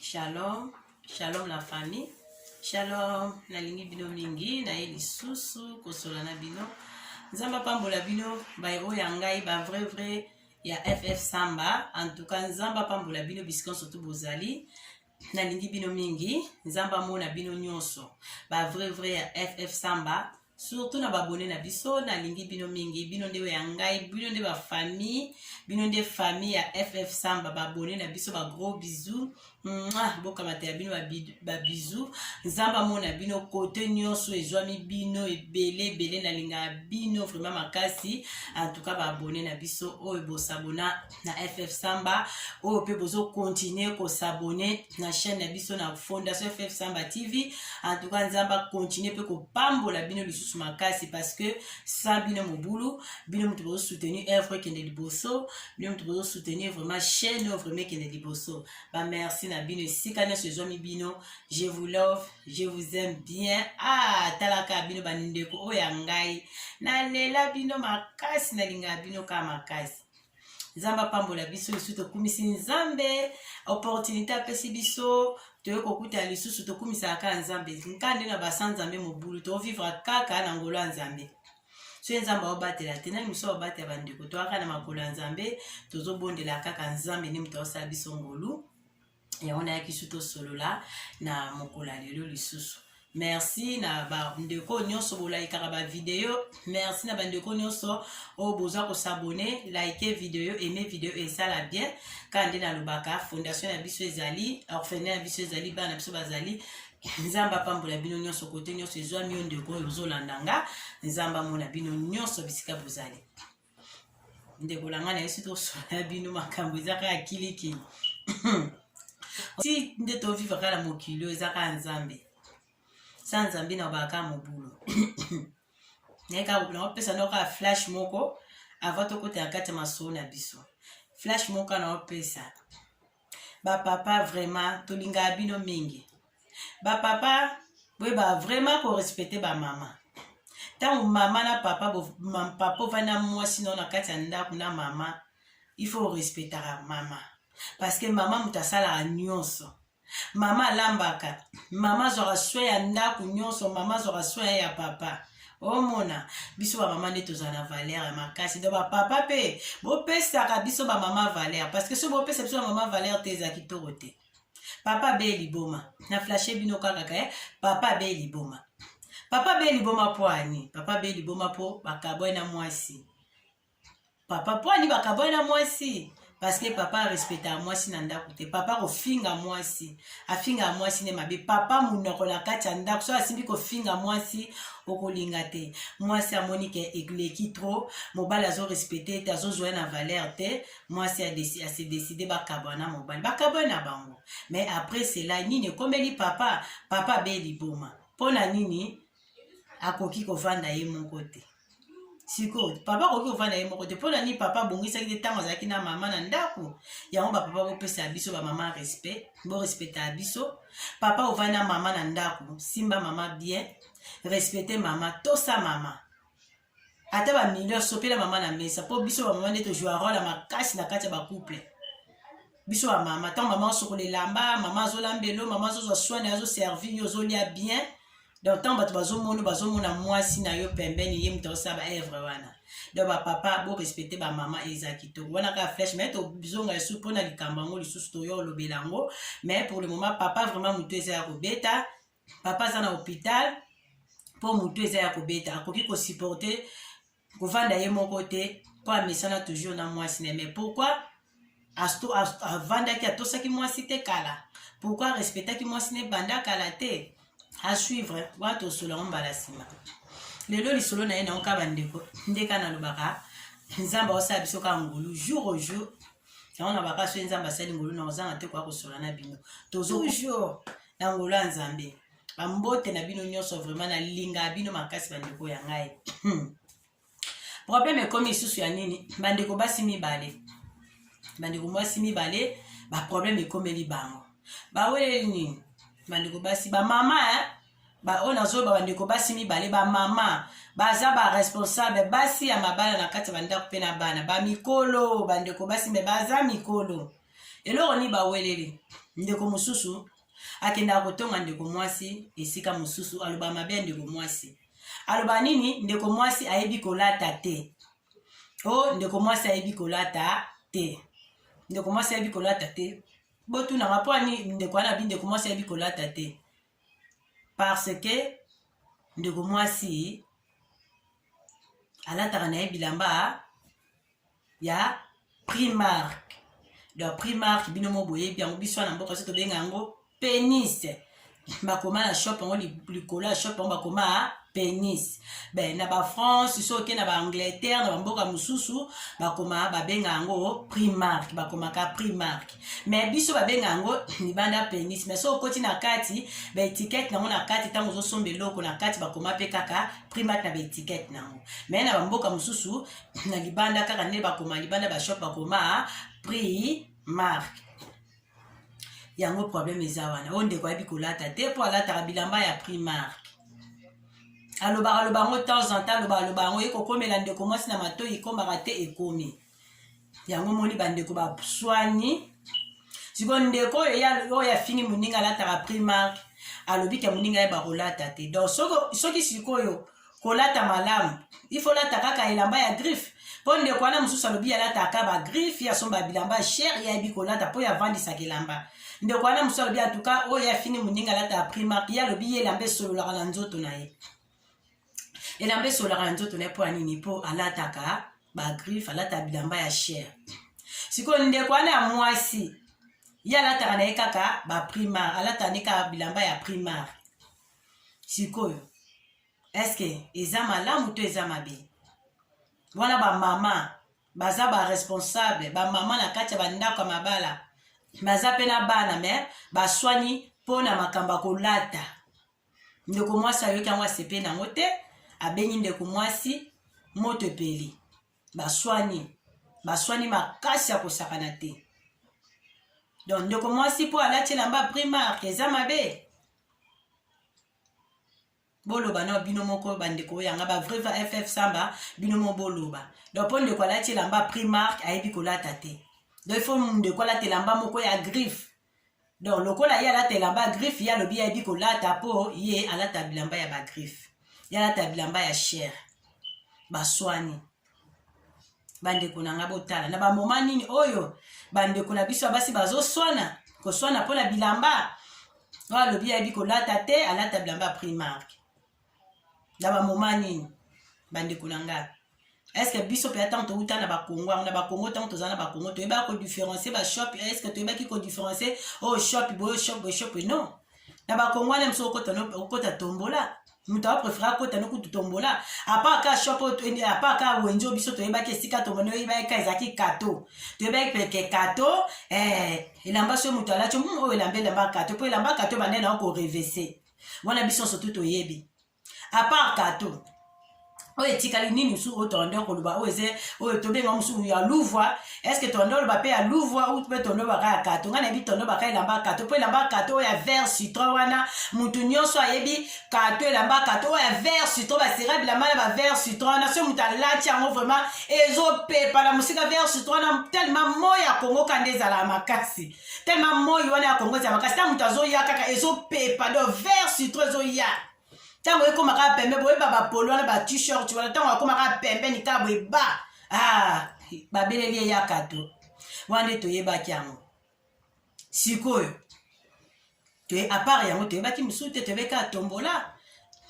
shalom shalom la famille shalom nalingi bino mingi naye lisusu kosola na bino nzambe apambola bino baye oyo ya ngai ba vrai vrai ya ff samba en tout cas nzambe apambola bino bisika nyonso tu bozali nalingi bino mingi nzambe amona bino nyonso ba vrai vrai ya ff samba surtout na babone na biso nalingi bino mingi bino nde ya ngai bino nde bafamille bino nde famille ya ff samba babone na biso bagros bisou bokamatela bino babisou nzambe amona bino kote nyonso ezwami bino ebele ebele nalingaka bino vraiment makasi antuka baabone na biso oyo bosabona na ff samba oyo mpe bozokontinue kosabone na chaîne na biso na fondation ff samba tv en tout cas nzambe akontinue mpe kopambola bino lisusu makasi parce que sa bino mobulu bino moto bozosoutenir œuvre ekende liboso bino moto bozosoutenir vraiment chaîne oyo vraiment ekende liboso bamerci na bino esika nyonso ezwami bino je vous love je vous aime bien ah talaka bino bandeko oyo ya ngai nalela bino makasi nalingaa bino kaka makasi nzambe apambola biso lisusu tokumisi nzambe opportunité apesi biso toye kokutana lisusu tokumisaka kaka nzambe nka nde na basa nzambe mobulu tovivre kaka na ngolo ya nzambe soki nzambe aobatela te nani mosusu aobatela bandeko toyaka na makolo ya nzambe tozobondela kaka nzambe nde moto aosala biso ngolu yango nayaki su tosolola na mokolo ya lelo lisusu merci na bandeko oyo nyonso bolayikaka bavideo merci na bandeko nyonso oyo boza kosabone like video aime video esala bien kaka nde nalobaka fondation na biso ezali orphelin ya biso ezali bana na biso bazali nzambe apambola bino nyonso kote nyonso ezwami yo ndeko oyo ozolanda nga nzambe amona bino nyonso bisika bozali ndeko na ngai na yesu tosola bino makambo eza kaka kilikili ti nde toviva kaka na mokili oyo eza kaka nzambe sa nzambe na obaka mobulo naye kaka bopona opesa nao kaka flash moko avant tokota na kati ya masolo na biso flash moko kaka na opesa bapapa vraiment tolingaka bino mingi bapapa boyeba vraiment korespecte bamama ntango mama na papa papa ovandi na mwasi nao na kati ya ndako na mama il faut orespectaka mama parce que mama moto asalaka nyonso mama alambaka mama azwaka swe ya ndako nyonso mama azwaka swe ya papa omona biso bamama nde tozala na valeur ya makasi do bapapa mpe bopesaka biso bamama valeur parce que soki bopesa biso bamama valeur te eza kitoko te papa be liboma na flashe bino kaka ke eh? papa be liboma papa be liboma mpo ani papa be liboma mpo bakabwai na mwasi papa mpo ani bakabwani na mwasi parceke papa arespectaka mwasi na ndako te papa kofinga mwasi afingaka mwasi nde mabe papa monoko na kati ya ndako soki asimbi kofinga mwasi okolinga te mwasi amoni ke eleki trop mobali azorespecte te azozwa na valeur te mwasi ase decide bakabwana mobali bakabwani na bango mais après cela nini ekomeli papa papa abe liboma mpo na nini akoki kovanda ye moko te sikoyo papa akoki kovanda ye moko te mpo na nini papa abongisaki te ntango azalaki na mama na ndako yango bapapa bopesa ya biso bamama respect borespecta ya biso papa ovandi na mama na ndako simba mama bien respecte mama tosa mama ata ba mineur sopela mama na mesa mpo biso bamama nde tozwa role ya makasi na kati ya bacouple biso bamama ntango mama osokola elamba mama azolamba elo mama azozwa swane azoservi yo ozolia bien donc ntango bato bazomona bazomona mwasi na yo pembeni ye moto azosala baevre wana donc bapapa borespecte bamama eza kitoko wana kaka flèche mai tozonga lisusu mpo na likambo yango lisusu toyo olobela yango mais pour le moment papa vraiment moto eza ya kobeta papa aza na hopital mpo motu eza ya kobeta akoki kosupporte kovanda ye moko te mpo amesana toujours na mwasi ne mais pourquoi avandaki atosaki mwasi te kala pourkui arespectaki mwasi ne banda kala te asuivre wana tosola yango mbala nsima lelo lisolo na ye nayoka bandeko ndeka nalobaka nzambe aosala biso kaka ngolu jour au jour yango na baka soki nzambe asali ngolu na ozanga te koya kosola na bino tozoujour na ngolu ya nzambe bambote na bino nyonso vraiment nalinga bino makasi bandeko ya ngai problème ekomi lisusu ya nini bandeko basi mibale bandeko mwasi mibale baproblème ekomeli bango baweleli nini bandeko basi bamama baoyo nazoyeba bandeko basi mibale bamama baza baresponsable basi ya mabala na kati ya bandako mpe na bana bamikolo bandeko basi me baza mikolo eloko nini baweleli ndeko mosusu akendaka kotonga ndeko mwasi esika mosusu aloba mabe ya ndeko mwasi aloba nini ndeko mwasi ayebi kolata te o oh, ndeko mwasi ayebi kolata te ndeko mwasi ayebi kolata te botunanga mpo ani ndeko wana abi ndeko mwasi ayebi kolata te parce que ndeko mwasi alataka na ye bilamba ya primark de primark bino mo boyebi yango biso wana mboka so tobenga yango penis bakoma na shop yango likolo ya shop yango bakoma penis be na ba france soki na ba angleterre na bamboka mosusu bakoma babenga yango primark bakomaka primark me biso babenga yango libanda penis me soki okoti na kati baetikete nango na kati ntango ozosomba eloko na kati bakoma mpe kaka primark na baetikete nango me na bamboka mosusu na libanda kaka nde bakoma libanda bashop bakoma primark yango problème eza wana oyo ndeko ayebi kolata te mpo alataka bilamba ya primark alobaka loba yango temps en temps alobaka loba yango ye kokomela ndeko mwasi na matoi ekomaka te ekomi yango moni bandeko baswani sikoyo ndeko oyo oyo afingi moninga alataka primark alobi ke moninga ye bakolata te donc soki sikoyo kolata malamu ifo olata kaka elamba ya griffe mpo ndeko wana mosusu alobi alataka bagriffe ye asomba bilamba shere ye ayebi kolata mpo ye avandisaka elamba ndeko wana mosusu alobi antuka oyo ye afini moninga alataka primark ye alobi ye elamba esololaka na nzoto na ye elamba esololaka na nzoto na ye mpo ya nini mpo alataka bagriffe alataka bilamba ya shere sikoyo ndeko wana ya mwasi ye alataka na ye kaka baprimar alataka nde kaka bilamba ya primar sikoyo eske eza malamu to eza mabe wana bamama baza baresponsable bamama na kati ya bandako ya mabala baza mpe na bana me baswani mpo na makambo ya kolata ndeko mwasi ayoki yango asepe nango te abengi ndeko mwasi moto epeli baswani baswani makasi ya kosakana te donc ndeko mwasi mpo alati elamba primarke eza mabe boloba na bino moko bandeko oyo yanga ba vrai ff samba bino moko boloba donc mpo ndeko alati elamba primark ayebi kolata te donc ifo ndeko alata elamba moko ya griffe donc lokola ye alata elamba ya griffe ye alobi ayebi kolata mpo ye alata bilamba ya bagriffe ye alata bilamba ya chere baswani bandeko na ngai botala na bamoma nini oyo bandeko na biso ya basi bazoswana koswana mpo na bilamba oyo alobi ayebi kolata te alata bilamba ya primarke na bamoma nini bandeko na ngai estce biso mpe ntango touta na bakongo yango na bakongo ntango toza na bakongo toyebaki kodifferencie bashop estce toyebaki kodifferencie oyo oh, shop boyo shop boyo shop non na bakongwana mosusu okota tombola moto apreferaka akota no kutu tombola apart ka shop eh, apart ka wenjo biso toyebaki esika tomoni oyebaki ka ezalaki kato toyebaki peke kato eh, elamba so moto alati hmm, oyo elamba elamba kato mpo elamba kato bande na yo korevese wana biso nso tu toyebi apart kato oyo etikali nini mosusu oyo tolanda koloba oyo eze oyo tobenga mosusu ya luvwa estce tolanda oloba mpe ya luvwa ou mpe tondo baka ya kato ngai nayebi tondo baka elamba ya kato mpo elamba ya kato oyo ya vert citron wana motu nyonso ayebi kato elamba ya kato oyo ya vert citron basera bilamba na ba vert citron wana soki motu alati yango vraiment ezopepa na mosika vert citron wana tellement moi ya kongo kanda ezalaka makasi tellement moi wana ya kongo eza makasi ntango moto azoya kaka ezopepa do vert citron ezoya ntango ekóma kaka pembe boyeba bapolo wana ba t-shirt wana ntango akóma kaka pembe nikaa boye ba ah, babeleli eyaka to wana nde toyebaki yango sikoyo toye apart yango toyebaki mosusu te toyebaki kaka tombola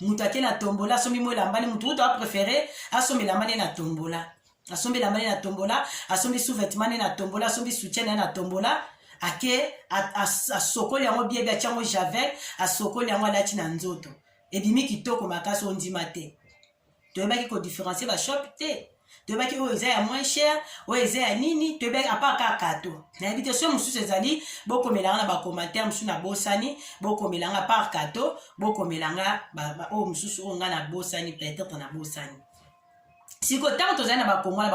moto ake na tombola asombi mo elambani moto kutu aprefere asomba elambani na tombola asombi elambani na tombola asombi sous-vetemani na tombola asombi soutien na ye na tombola ake asokoli yango biebi atya yango javel asokoli yango alati na nzoto ebimi kitoko makasi ondima te toyebaki ko differencier ba shop te toyebaki oyo eza ya moins cher oyo eza ya nini toyebaki apart kaka kato nayebi te soki mosusu ezali bokomelanga na bacommentaire mosusu nabosani bokomelanga par kato bokomelanga oyo mosusu oyo ngai nabosani peut-être nabosani sikoyo ntango tozali na bakongo na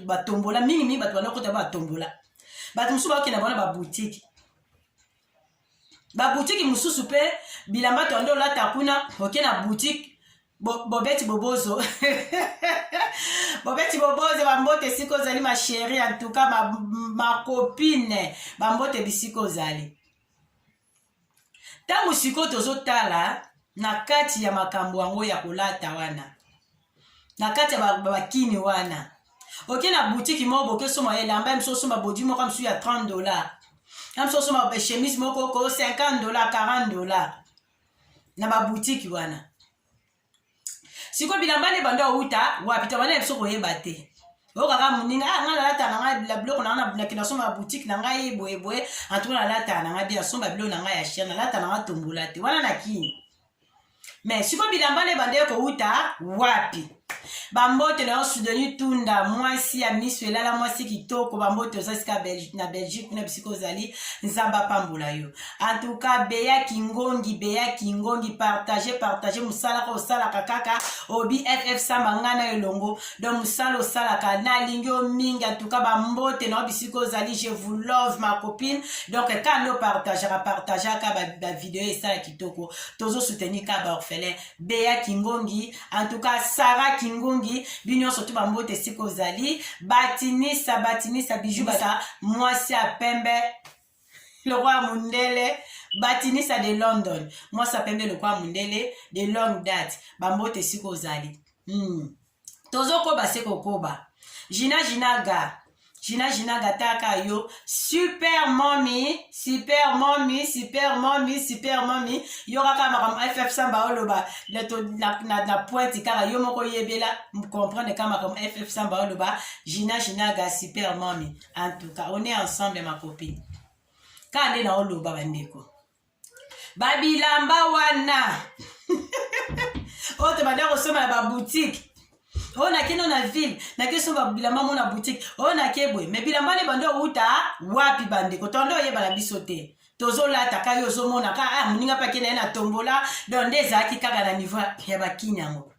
batombola mingimingi bato banda kota batombola bato mosusu baokenda bango na babutike babutiki mosusu mpe bilamba toyande olata kuna oke na butike bobeti bobozo bobeti bobozo bambote esika ozali masheri en tout cas makopine bambote bisika ozali ntango sikoyo tozotala na kati ya makambo yango ya kolata wana na kati ya bakini ba, ba wana oke na butiki moko bokesoma elamba ya miso osomba bodi moko ya misu ya 30 dollar ya miso osomba chemise moko oko 50 dollar 40 dollar na babutiki wana sikoyo bilamba nde bando awuta wapi tabana ya biso koyeba te okaka moninga ah, ngai nalata na ngai biloko na ngai nakenda somba ya butike na ngai boyeboye antuka nalata na ngai bia somba biloko na ngai ya chien nalata na ngai tombola te wana na kini me sikoyo bilamba nde bandeki kowuta wapi bambote na yo sudeni tunda mwasi ya miso elala mwasi kitoko bambote oza sika Belgi, na belgique kuna bisika ozali nzambe apambola yo antuka beya kingongi beya kingongi partage partage mosala kaka osalaka kaka obi ff samba ngai na elongo don mosala osalaka nalingi yo mingi antuka bambote na yo bisika ozali je vous love ma copine donc kaka nde opartageaka partageaka bavideo esalaki kitoko tozo soutenir ka ba orphelin bea kingongi en tout cas sara kingongi bino nyonso tu bambote esika ozali batinisa batinisa biju basa mwasi ya pembe lokwa mundele batinisa de london mwasi ya pembe lokwa mundele de long date bambote esika ozali hmm. tozokoba se kokoba jina jinaga jina jinaga taka yo super momi super momi super momi super momi yo kaka makambo ff samba oloba na, na, na pointe kaka yo moko yebela comprendre kaka makambo ff samba oloba jina jinaga super momi en tout cas on est ensemble ma copine kaka nde naoloba bandeko babilamba wana oyo tobanda kosomba na babutike oyo nake no na ville nake somba bilamba mo na butike oyo nake boye me bilamba ne bando outa wapi bandeko tonde oyebala biso te tozolata kai ozomona ka ah, moninga mpe ake na ye na tombola don nde ezalaki kaka na niveau ya bakini yango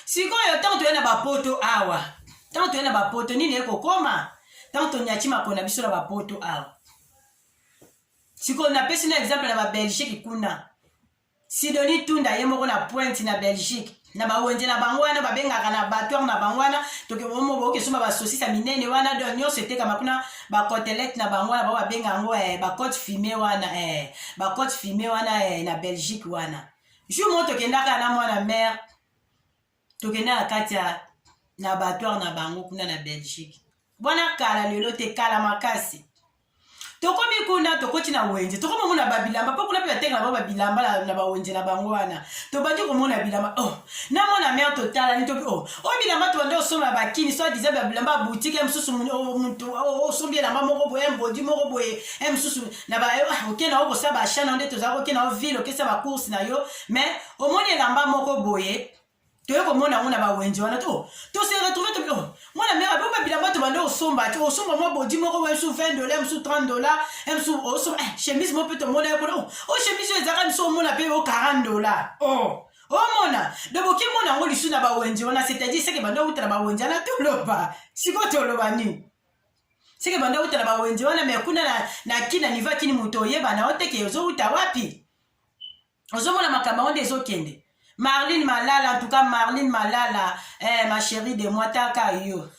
sikoyo ntango toye na bapoto awa ntango toye na bapoto nini ekokoma ntango tonyati makolo na biso na bapoto awa sikoyo napesi na exemple na babelgique kuna sidoni tunda ye moko na pointe na belgique na bawenze na bango wana babengaka na batoire na bango wana tokebokesomba basosis ya minene wana do nyonso etekama kuna bacotelete na bango wana bango babenga yango eh, bacote fume wana eh, bacote fume wana eh, na belgique wana jour moko tokendaka na mwana mare tokendaka kati ya na batoire na bango kuna na belgique bwana kala lelo te kala makasi tokomi kuna tokoti na wenze tokomi komona babilamba mpo kuna mpe batenge na bango babilamba na bawenze na bango wana tobandi komona bilamba o oh, na mwana mare totalani tobi o oh, o oh, bilamba tobandi kosomba bakini so adiza babilamba ya butike ya mosusu motu osombi elamba moko boye mbodi moko boye ya mosusu na ba eh, ah, oke na yo kosa ba achat na yo nde tozalaki oke na yo ville okesa ba course na yo mais omoni elamba moko boye toye komona yango na bawenze wana to tose retrouve to oh, mwana mera bo babilamba tobande osomba ti osomba mwa bodi moko wa msu 20 dola msu 30 dola msu osomba eh, chemise mo mpe tomona ye kuna o oh, oh, chemise oyo ezaka miso omona mpe o 40 dola o omona donc okimona yango lisu na bawenze wana c'est-à-dire seke banda outa na bawenze wana toloba sikoyo toloba nini seke banda outa na bawenze wana me kuna na, na kina nivo ya kini moto oyebana o teke ozouta wapi ozomona makambo yango nde ezokende marline malala antuka marline malala eh, ma chérie de moi taka yo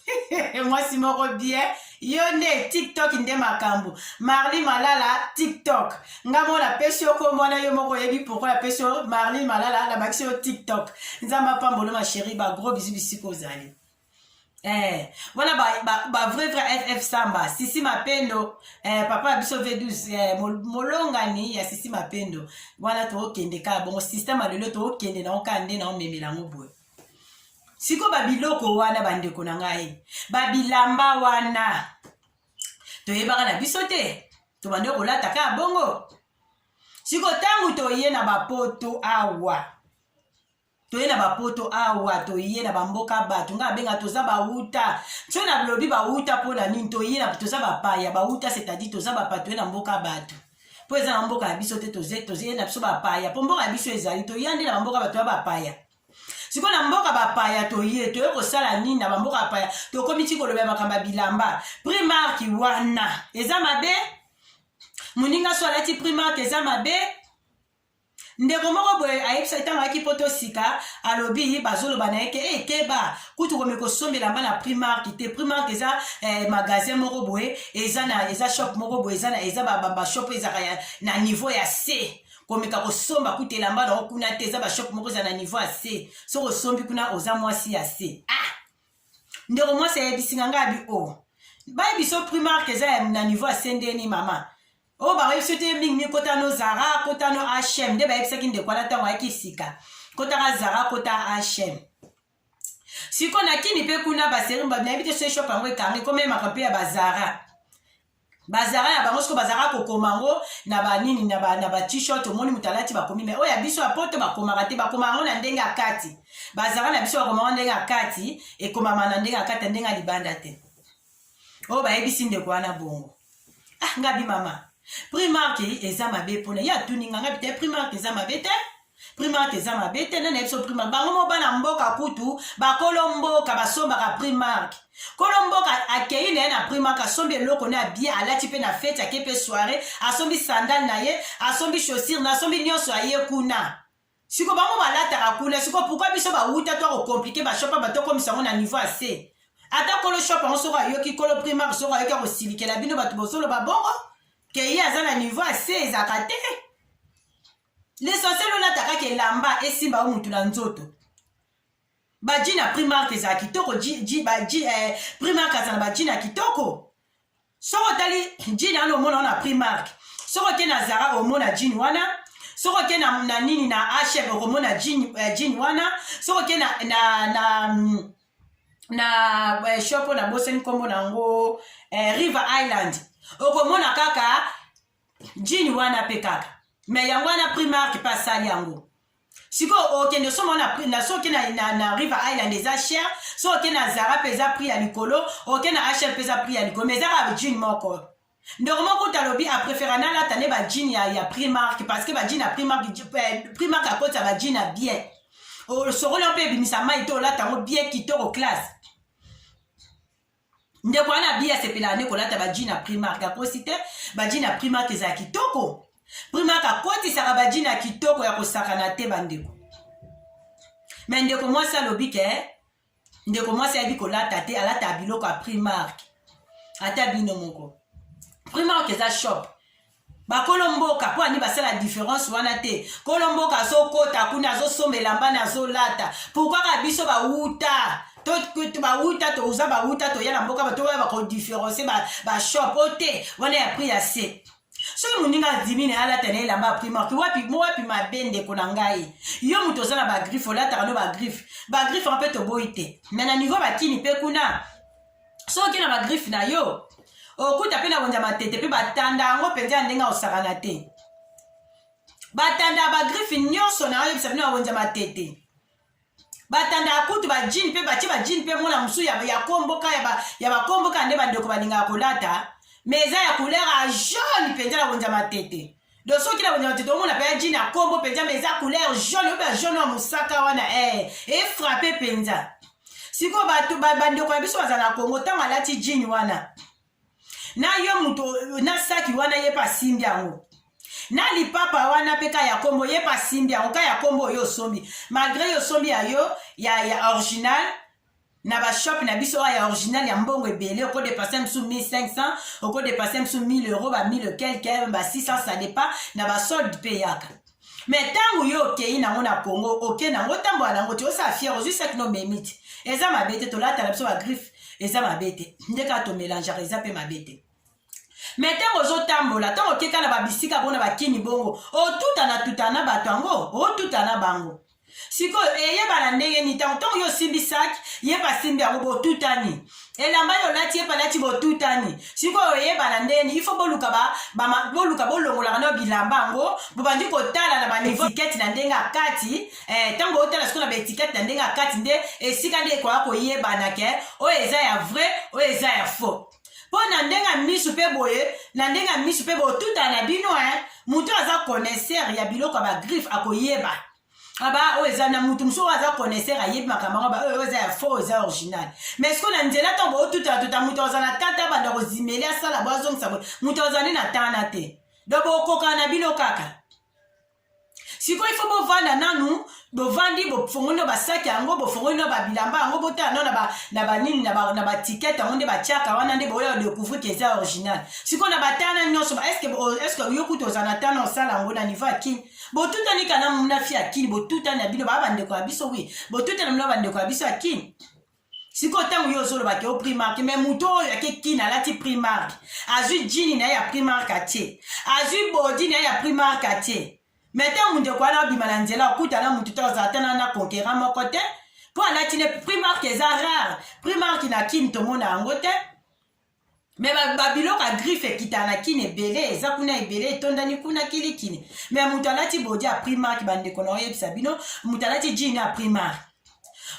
mwasi moko bien yo nde tiktok nde makambo marline malala tiktok nga mona apesi yo kombo wana yo moko oyebi pourkoi apesi yo marline malala nabakisi yo tiktok nzambe apambolo ma chérie bagros bizu bisika ozali Eh, wana ba, ba, ba vrai vrai ff samba sisi mapendo eh, papa ya biso v12 eh, molongani ya sisi mapendo wana tookende kaka bongo systeme ya lelo tookende nango kaka nde na omemela yango boye siko babiloko wana bandeko na ngai babilamba wana toyebaka na biso te tobandi kolata kaka bongo siko ntango toye na bapoto awa toye na bapoto awa toye na bamboka bato ngai abenga toza bawuta nso na lobi bawuta mpo na nini toye na toza bapaya bawuta c'est-à-dire toza bapaya toye na mboka bato mpo eza na mboka ya biso te toye na biso bapaya mpo mboka ya biso ezali toya nde na bamboka bato ya bapaya sikoyo na mboka bapaya toye toye kosala nini na bamboka bapaya tokomi ti koloba ya makambo ya bilamba primarki wana eza mabe moninga so alati primarki eza mabe ndeko moko boye ayebisaki ntango ayaki poto sika alobi bazoloba na ye ke e keba kutu komi kosombela mba na primark te primark eza eh, magasin moko boye eza na eza shop moko boye eza na eza bashop ezaka na niveau ya se komeka kosomba kutu elamba na yo kuna te eza bashop moko eza na niveau ya se soki osombi kuna oza mwasi ya se ah ndeko mwasi ayebisinga ngai abi o oh. bayebiso primark eza na niveau ya se ndeni mama oyo bayebisi te mingi mingi kota no zara kota no hm nde bayebisaki ndeko wana ntango ayaki sika kotaka zara kota hm sikoyo na kini mpe kuna baseri nayebi te soki shop yango ekangi komemaka mpe ya bazara bazara ya bango soko bazalaka kokoma yango na banini na batishirt omoni moto alati bakomi me oyo ya biso ya poto bakomaka te bakoma yango na ndenge ya kati bazara na biso bakoma yango ndenge ya kati ekomama na ndenge ya kati ya ndenge ya libanda te oyo oh, bayebisi ndeko wana bongo ah nga bimama primark eza mabe mpona ye atuni nga nga bite primark eza mabe te primark eza mabe te nani yebiso primark bango mo bana mboka kutu bakolo mboka basombaka primark kolo mboka akei na ye na primark asombi eloko na bie alati mpe na feti ake mpe soire asombi sandale na ye asombi chaussire na asombi nyonso aye kuna Siko bango balataka kuna, siko pourquoi biso bawuta to ko compliquer ba shop ba to komisa ngo na niveau assez. Ata kolo shop yango soko ayoki kolo primaire soko ayoki akosilikela bino bato bozoloba bongo ke ye aza na niveau assez ezaka te. L'essentiel olata kaka elamba esimba yo mutu na nzoto. Baji na primark eza kitoko, ji, ji, ba, ji, eh, primark aza na baji na kitoko. soki otali jini wana omona wana prix mark soki oke na zara omona jini wana soki oke na, na nini na hm okomona jini, uh, eh, jini wana soki oke na, na, na mm, na eh, shop oyo nabosani nkombo na yango eh, river island okomona kaka jini wana mpe kaka me yango wana primark mpe asali yango sikoyo okende osomba na soki na, na, na river island eza cher soki na zara mpe eza prix ya likolo oke na hr mpe eza prix ya likolo ma ezaka jean moko ndeko moko kuta alobi aprefera nalata nde bajin ya, ya primark parce que bajin ya primark eh, primark akotisa bajin ya bien osokoli mpe ebimisa mai te olata yango bien kitoko classe ndeko wana abi asepelaka nde kolata baji na primark akosi te baji na primark eza ya kitoko primark akotisaka baji na kitoko ya kosakana te bandeko me ndeko mwasi alobi ke ndeko mwasi ayebi kolata te alata biloko ya primark ata bino moko primark eza shop bakolo mboka mpo ani basala diference wana te kolo mboka azokota kuna azosomba elamba na azolata pourkui kaka biso bawuta bawuta toza bawuta toya na mboka batoya bakodiferencie bashop o te wana ya prix ya se soki moninga adimi na ye alata na elamba ya primarke wapi wapi mabe ndeko na ngai yo moto oza na bagriffe olataka no bagriffe bagriffe yango mpe toboyi te me na niveau bakini mpe kuna soki na bagriffe na yo okuta mpe na wenza matete mpe batanda yango mpenza ya ndenge akosakana te batanda ya bagriffe nyonso na oyebisa bino ya wenza matete batanda ya kutu bajine mpe batye bajine mpe mwana mosusu ya komboka ya bakomboka nde bandeko balingaka kolata me eza ya couleur ya jaune mpenza na wenza matete do soki na banyama tete omona mpenza jini ya kombo mpenza ma eza couleur jaune oyo ba jaune ya mosaka wana e efrape mpenza sikoyo bato bandeko na biso bazala na kongo ntango alati jini wana na yo moto na saki wana ye mpe asimbi yango na lipapa wana mpe ka ya kombo ye mpe asimbi yango ka ya kombo oyo osombi malgre yo osombi ya yo ya, ya original na bashop na biso oyo ya original ya mbongo ebele okodepase mosusu 1500 okodepase mosusu 1000 euro ba 1000 quelque ba 600 ça dépend na basolde mpe eyaka me ntango yo okei nango na congo oke nango otambola nango te osala fiere ozwi saki no omemi te eza mabe te tolatala biso bagriffe eza mabe te nde kaka tomelangeaka eza mpe mabe te me ntango ozotambola ntango okeka na babisika mpona bakini bongo otutana tutana na bato yango otuta na bango sikoyo eyebana ndenge nini ntango ntango yo osimbi saki ye basimbi yango botutani elamba yo olati ye palati botutani sikoyo oyebana ndenge nini ifo boluka boluka bolongolaka nayo bilamba yango bobandi kotala na baetikete na ndenge akati eh, ntango otala sikoyo na baetikete na ndenge akati nde esika nde ekoya koyebana ke oyo eza ya vrai oyo eza ya faux mpo na ndenge ya miso mpe boye na ndenge ya miso mpe botutana na bino e eh, moto aza connaisseur ya biloko ya bagriffe akoyeba aba ah oyo eza na moto mosusu oyo aza connaisseur ayebi makambo yango baoyo eza ya faux eza original mais sikoyo na nzela ntango bootutatuta moto aza na tata abanda kozimeli asala bo azongisa boye moto azali na tana te donc bokokana na bino kaka sikoyo ifo bovanda nanu bovandi bofongoli na basaki yango bofongoli na babilamba yango botala no na banini na batikete yango nde batiaka wana nde boya decouvrir ke eza original sikoyo na batana nyonso eske yo kutu oza na tana osala yango na niveau ya kini botutani kana munafi ya kini botutani na bino baa bandeko ya biso wi botutani na bino bandeko ya biso ya kini sikoyo ntango yo ozoloba ke o primark me moto oyo ake kina alati primark azwi jini na ye ya primark atie azwi bodi na ye ya primark atie me ntango ndeko wana abima na nzela okuta na motu ta ozala tana na conquerant moko te mpo alati ne primark eza rare primark na kini tomona yango te me babiloko ya griffe ekitaka na kini ebele eza kuna ebele etondani kuna kilikini me moto alati bodi ya primark bandeko na oyebisa bino moto alati jini ya primark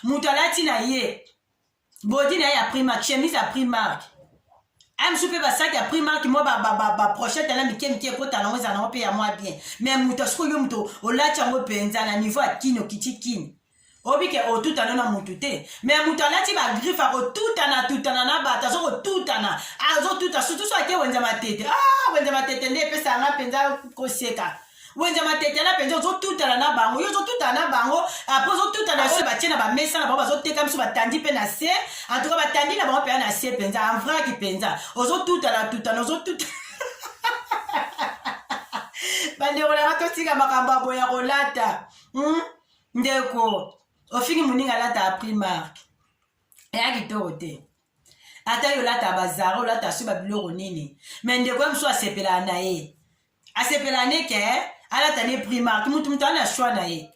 moto alati na ye bodi na ye ya primark chemise ya primark amsu mpe basaki ya primark mwa baprochete ba, ba, ba na mike mike ekota nango eza nango mpe ya mwa bien me moto asikoyo moto olati yango mpenza na niveau ya kini okiti kini obike otutana na mutu te me mutu alati bagriffe akotutana tutana na bato azokotutana azotuta sutu so ake wenza matete ah, wenza matete nde epesa yanga mpenza koseka wenza matete na mpenza ozotutana na bango yo ozotutana na bango apres ozotutana oyo batie na bamesa na bango bazoteka biso batandi mpe na se antuka batandi na bango mpenza na se mpenza anvraki mpenza ozotutana tutana ozotutana bandeko na nga totika makambo ya boya kolata hmm? ndeko ofingi moninga alata ya primark eya kitoko te ata yo olata bazara olata so babiloko nini me ndeko ya mosusu asepelaka na ye asepelaka ne ke alata ne primark motu motu ana shwa na ye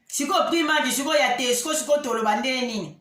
sikoyo primark sikoyo ya tesco sikoyo toloba ndenge nini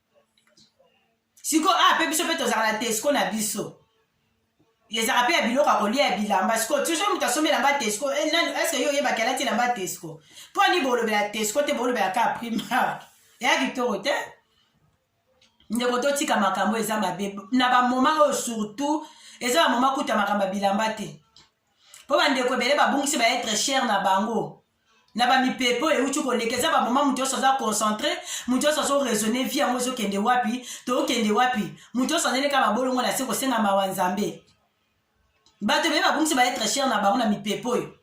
siko a ah, mpe biso mpe tozalaka na tesco na biso ezalaka mpe ya biloko ya kolia ya bilamba siko toujours moto asombi elamba tesco eh, nani eske yo oyebaki alati elamba tesco mpo ani bolobela tesco te bolobela ka primark eya kitoko te ndeko totika makambo eza mabe na bamoma oyo surtout eza bamoma kuta makambo ya bilamba te mpo bandeko ebele babungisi baetre chere na bango na bamipepe oyo euti koleka eza bamoma moto nyonso aza concentre moto nyonso azo raisonne vie yango ezokende wapi tokende wapi moto nyonso aneleka mabolongo na se kosenga mawa nzambe bato ebele babungisi baetre chere na bango na mipepe oyo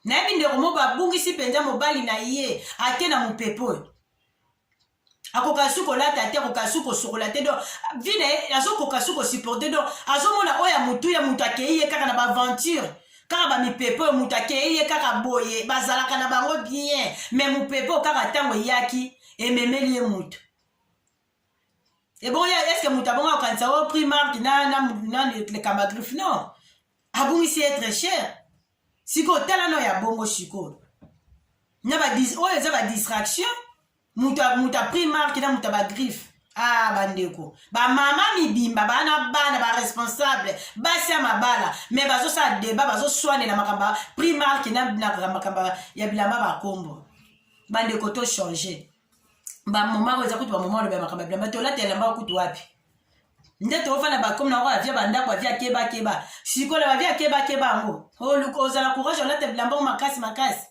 nayebi ndeko moko abungisi mpenza mobali na ye ake na mopepe oyo akoka su kolata te akoka su kosokola te donc vi na ye azokoka su kosupporte donc azomona oyo ya motu ya motu akei ye kaka na baaventure kaka bamipepe oyo motu akei ye kaka boye bazalaka na bango bien me mopepe oyo kaka ntango eyaki ememeli ye motu ebongo ya eske motu abongo akokanisa o oh, prix marke na, na, na lekamba griffe non abungisi ye très cher sikoyo tala no ya bongo sikoyo na oyo eza badistraction moto a pris marke na moto ya bagriffe ah bandeko bamama mibimba baa na bana baresponsable basi ya mabala me bazosala deba bazoswanela makambo ya prix marke na makambo ya bilamba bakombo bandeko to change bamoma oyo eza kutu bamoma oloba ya makambo ya bilamba tolata elamba kutu wapi nde tofanda bakomi na yango avia bandako avia kebakeba sikola bavia kebakeba yango ozala courage olata bilamba yango makasi makasi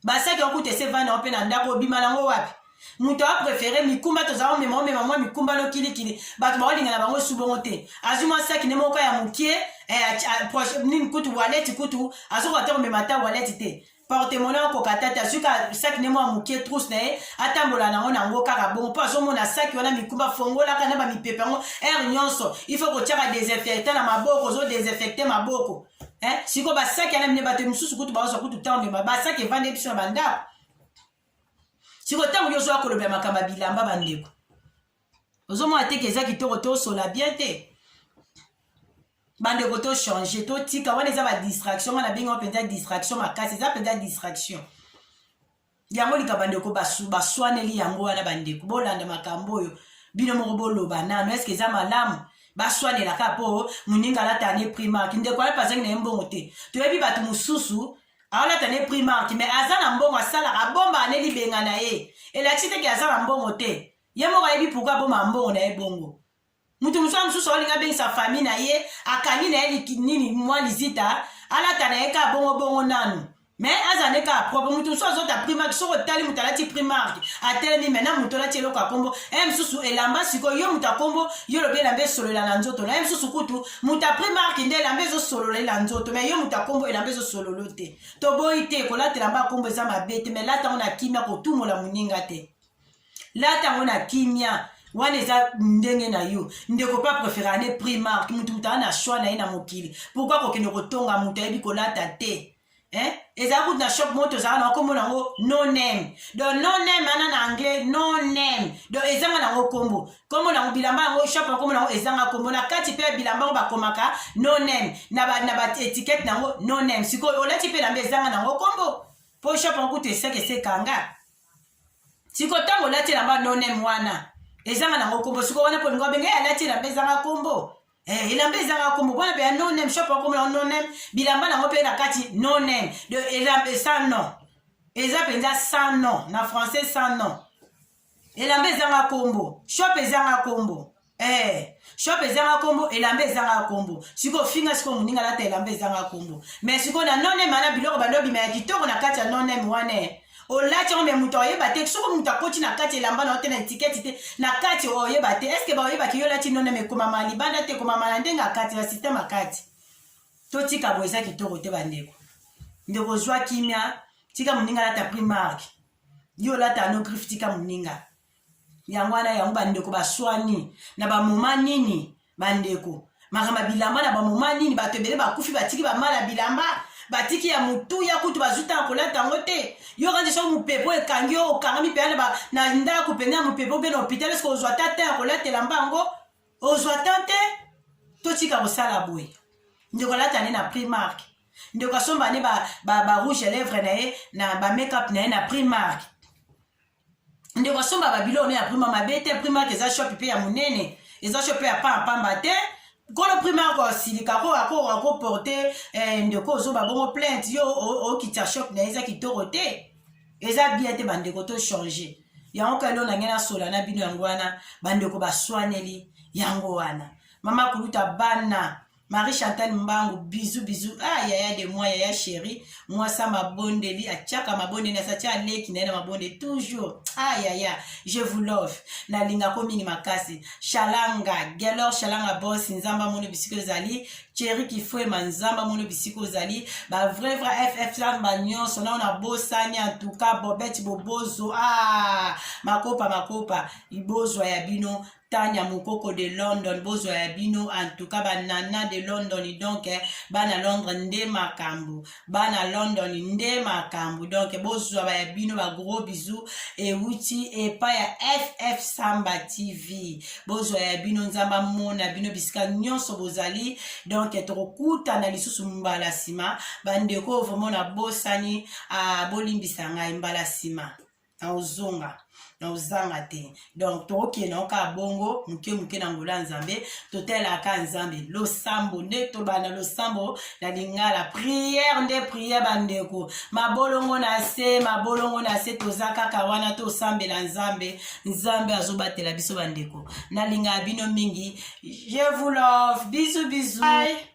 basaki okuta ese vanda yo mpe na ndako obima nango wapi moto apreferé mikumba tozala omema omema mwa mikumba nokilikili bato baolinga na bango subongo te azwi mwa saki ne moko ya mokie eh, nini kutu waleti kutu azokoka te komema ata waleti te portemone akoka tata azwi ka saki ne mwa ya mokie trousse na ye atambola nango nango kaka bongo mpo azomona saki wana mikumba fongolaka na bamipepe yango heure nyonso il faut kotyaka desinfecta na maboko ozodesinfecte maboko eh, siko basaki ana mine bato mosusu kutu baozwa kutu ntango mema basaki evandi ye biso na bandako siko ntango yo ozwa kolobela makambo ya bilamba bandeko ozomona teke eza kitoko tosola bien te bandeko tochange totika wana eza badistraction nga na bengi wa mpenza distraction makasi eza mpenza distraction yango likambo bandeko baswaneli yango wana bandeko bolanda makambo oyo bino moko boloba nano eske eza malamu baswanela kaka mpo moninga alata ne primark ndeko alapa azangi na ye mbongo te toyebi bato mosusu aolata ne primark me aza na mbongo asalaka abomba ane libenga na ye elakisi teke aza na mbongo te ye moko ayebi pourkui abomba mbongo na ye bongo mutu mosusu mosusu aolinga abengisa famille na ye akangi na ye nini mwa lizita alata na ye kaka bongobongo nanu me aza nde kaka propre moto mosusu azota primark soki otali moto alati primark atelemi me na moto olati eloko ya nkombo e mosusu elamba sikoyo yo moto ya nkombo yo lobi elamba esololela na nzoto na ye mosusu kutu moto ya primark nde elamba ezosololela nzoto me yo moto ya nkombo elamba ezosololo te toboyi te kolata elamba ya nkombo eza mabe te me lata yango na kimia kotumola moninga te lata yango na kimia wana eza ndenge na yo ndeko pa prefere ane primark mutu mutu aa na shoi na ye na mokili pourkui kokende kotonga moto ayebi kolata te eh? ezala kutu na shop moko tozala na okomona yango no name donc no name ana na anglais no name donc ezanga nango nkombo nkombo nango bilamba yango shop ya nkombo nango ezanga nkombo na kati mpe bilamba yango bakomaka no name na baetikete na yango no name sikoyo olati mpe elamba ezanga nango nkombo mpo shop yango kutu eseka esekanga siko ntango olati elamba nonem wana ezanga nango nkombo siko wana polingo abenge ye alati elamba ezanga nkombo eh, elamba ezanga nkombo mpona mpe ya nonem shop akomo yango nonem bilamba nango mpe na kati nonem de elamba sans nom eza mpenza sans nom na français sans nom elamba ezanga nkombo shop ezanga nkombo Eh, shop ezanga kombo elamba ezanga kombo sikoyo finga sikoyo moninga alata elamba ezanga kombo me sikoyo na nonem wana biloko bando obima ya kitoko na kati ya nonem wana olati yango me moto aoyeba te soko moto akoti na kati elamba na yo te na etiketi te na kati oyeba te estce baoyebaki yo olati nonem ekomama libanda te ekomama na ndenge akati na systeme akati totika boye eza kitoko te bandeko ndeko zwa kimia tika moninga alata primark yo olata no griffe tika moninga yango wana yango bandeko baswani na bamoma nini bandeko makambo ya bilamba na bamoma nini bato ebele bakufi batiki bamala bilamba batiki ya motuya kutu bazwi ntango kolata yango te yo kanzi soki mopepo ekangi yo okangami mpenza na ndako mpenza ya mopepo mpe na hôpital eske ozwa ta te ya kolatela mba yango ozwa ta te totika kosala boye ndeko alata nde na primark ndeko asomba nde barouge ba, ba ya lèvre na ye na bamake-up na ye na primark ndeko asomba babilo one ya prima mabe te primark eza shop mpe ya monene eza shop mpe ya pampamba te kolo primark asilika ko ako akoporte eh, ndeko ozoba bongo plainte yo okitya shop na ye eza kitoko te eza bien te bandeko to change yango kalo na ngai nasola na bino yango wana bandeko baswaneli yango wana mama kuluta bana Marie Chantal Mbangu bisous bisous ah yaya de moi yaya chérie moi sa mabondeli achaka mabondeli asacha aleki na ye na mabondeli toujours ah yaya je vous love nalinga ko mingi makasi shalanga gelor shalanga boss nzamba mono bisika ezali cheri kifuema nzamba mono bisika ozali ba vrai vrai ff lamba nyonso nao na bosani en tout cas bobeti bobozo ah makopa makopa libozwa ya bino Tanya Mukoko de London bozwa ya bino en tout cas ba nana de London donc eh, bana Londres nde makambo bana London nde makambo donc bozwa ba ya bino ba gros bisous ewuti epa ya FF Samba TV bozwa ya bino nzambe amona bino bisika nyonso bozali donc eh, tokokutana lisusu mbala nsima bandeko vraiment nabosani ah, bolimbisa ngai mbala nsima na ozonga na ozanga te donc tokokende yango kaka bongo moke moke na ngolo ya nzambe totalelaka nzambe losambo nde toloba na losambo na lingala priere nde priere bandeko mabolongo na se mabolongo na se toza kaka wana tosambela nzambe nzambe azobatela biso bandeko nalingaka bino mingi je vous love bizu bizu Bye.